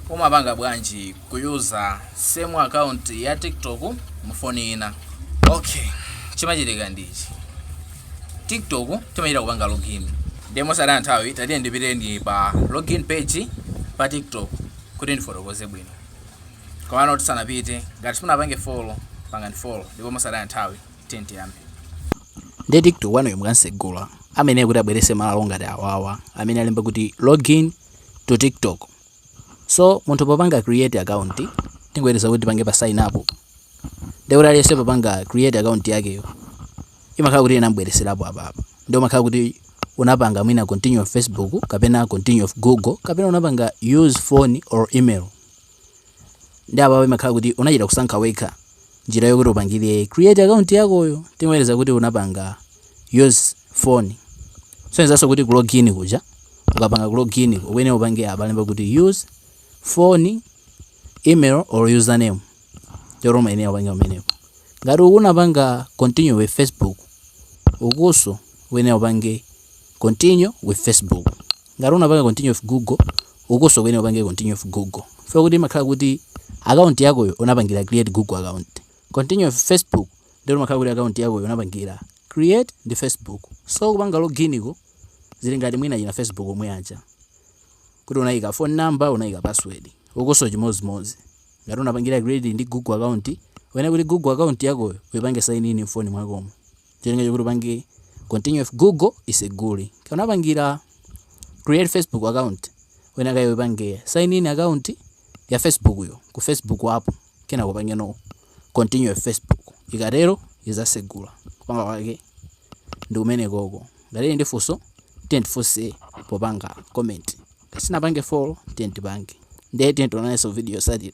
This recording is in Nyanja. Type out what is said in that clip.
Umapanga bwanji kuyuza same account ya tiktok mu foni yina? Okay, chimachitika ndi ichi, tiktok timachita kupanga login ndiye mosataya nthawi tatiye ndipite nanu pa login page pa tiktok kuti ndifotokoze bwino. Komano tisanapite, ngati simunapange follow pangani follow ndipo mosataya nthawi tiyeni tiyambe. Ndiye tiktok wanuyo mukansegula ameneyo kuti abweretse malo ngati awawa amene alemba kuti login. to TikTok so munthu popanga create account tingoyerekeza kuti tipange pa sign up ndiye kuti aliyense popanga create account yakeyo imakhala kuti inamubweretserapo apa apa ndiye imakhala kuti unapanga mwina continue with Facebook kapena continue with Google kapena unapanga use phone or email Nde apapa imakhala kuti unachita kusankha wekha njira yokuti upangile create account yakoyo. Tingoyelekeza kuti unapanga use phone, kusonyezanso kuti ku log in kuja ukapanga ku log in ukuyenera upange apa alemba kuti use phone, email or username ndiye umayenera upange pamenepo. Ngati uku unapanga continue with Facebook, ukunso ukuyenera upange continue with Facebook. Ngati unapanga continue with Google, ukunso ukuyenera upange continue with Google. Chifukwa choti imakhala kuti account yakoyo unapangila create Google account. Continue with Facebook, ndiye kuti umakhala kuti account yakoyo unapangila create ndi Facebook. So kupanga login ko zili ngati mwina achina Facebook omwe aja. Kuti unaika phone number, unaika password. Ukunso chimodzimodzi. Ngati unapangila create ndi Google account, uyenera kuti Google account yakoyo uipange sign in m'foni mwakomo. cholinga chokuti upange continue with Google isegule ngati unapangira create facebook account uyenera kuti uipange sign in account ya facebook yo ku Facebook app kenako upange no continue with Facebook ikatero izasegula kupanga kwake ndi kumene koko ngati muli ndi funso mutha kundifunsa popanga comment ngati simunapange follow tatipangeni ndiye tionanenso video yotsatira